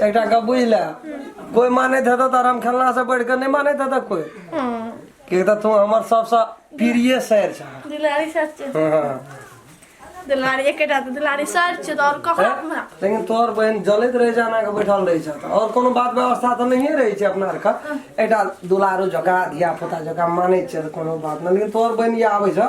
एकटा गप बुझ ले कोई मानैत हेतौ तऽ राम खेलना से बढ़ि कऽ नहि मानैत हेतौ कोई किएक तऽ तू हमर सबसँ प्रिय सैर छ दुलारी सर छै दुलारी एकेटा तऽ दुलारी सर छै तऽ आओर कहाँ हमरा लेकिन तोहर बहन जलैत रहै छै एना कऽ बैठल रहै छै तऽ आओर कोनो बात व्यवस्था तऽ नहिए रहै छै अपना आरके एकटा दुलारू जकाँ धिया पुता जकाँ मानै छै तऽ कोनो बात नहि लेकिन तोहर बहन ई आबै छ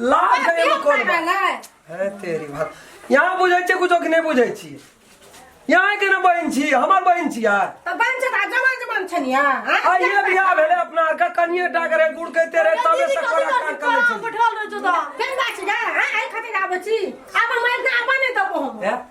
लाज करे में कोन बात? हे तेरी बात यहाँ बुझै छै कुछो कि नहि बुझै छी यहाँ के ने बहिन छी हमर बहिन छी यार आइए बियाह भेलै अपना आर के कनिए टा करे गुड़ के तेरे तबे से कोरा कान कर लै छी बैठल रहै छौ तऽ हे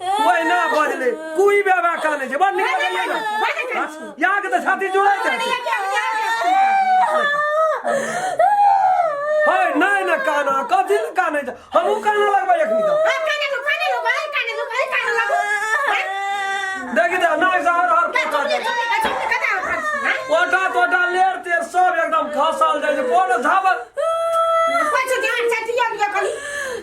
ओहिना बजले कोई बाबा का नहीं छै बड़ नीक बजलियै ने हाँ, यहाँ के तो छाती जुड़ै छै हाय नहीं ना काना कथी ले काने छै हमहू काना लगबै एखनी तो देखि दे नाक से हर हर पोटा जाय पोटा तोटा लेर तेर सब एकदम खसल जाय छै कोनो झाबल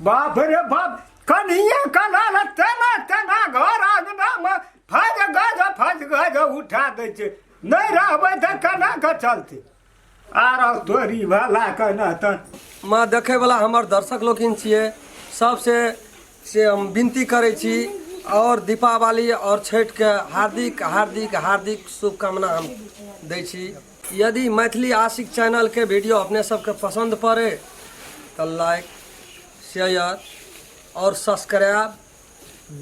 बाप रे बाप कन्हिया कनाल तेना तेना घर आंगनामे फज गज फज गज उठा दै छै नहि रहबै तऽ केना कऽ चलतै आर तोरी भला केना तऽ माँ देखैवला हमर दर्शक लोकिन छियै सबसे से हम विनती करै छी आओर दीपावली आओर छठिके हार्दिक हार्दिक हार्दिक शुभकामना हम दै छी यदि मैथिली आशिक चैनल के वीडियो अपने सबके पसंद पड़े तो लाइक शेयर और सब्सक्राइब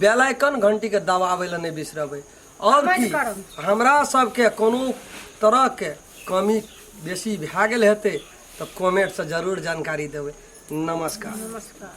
बेल आइकन घंटी के दबावे ला नहीं बिसरबे और Comment की करब। हमरा सबके कोनो तरह के कमी बेसी भए गेल हेतै तऽ कमेंट से जरूर जानकारी देबै नमस्कार नमस्कार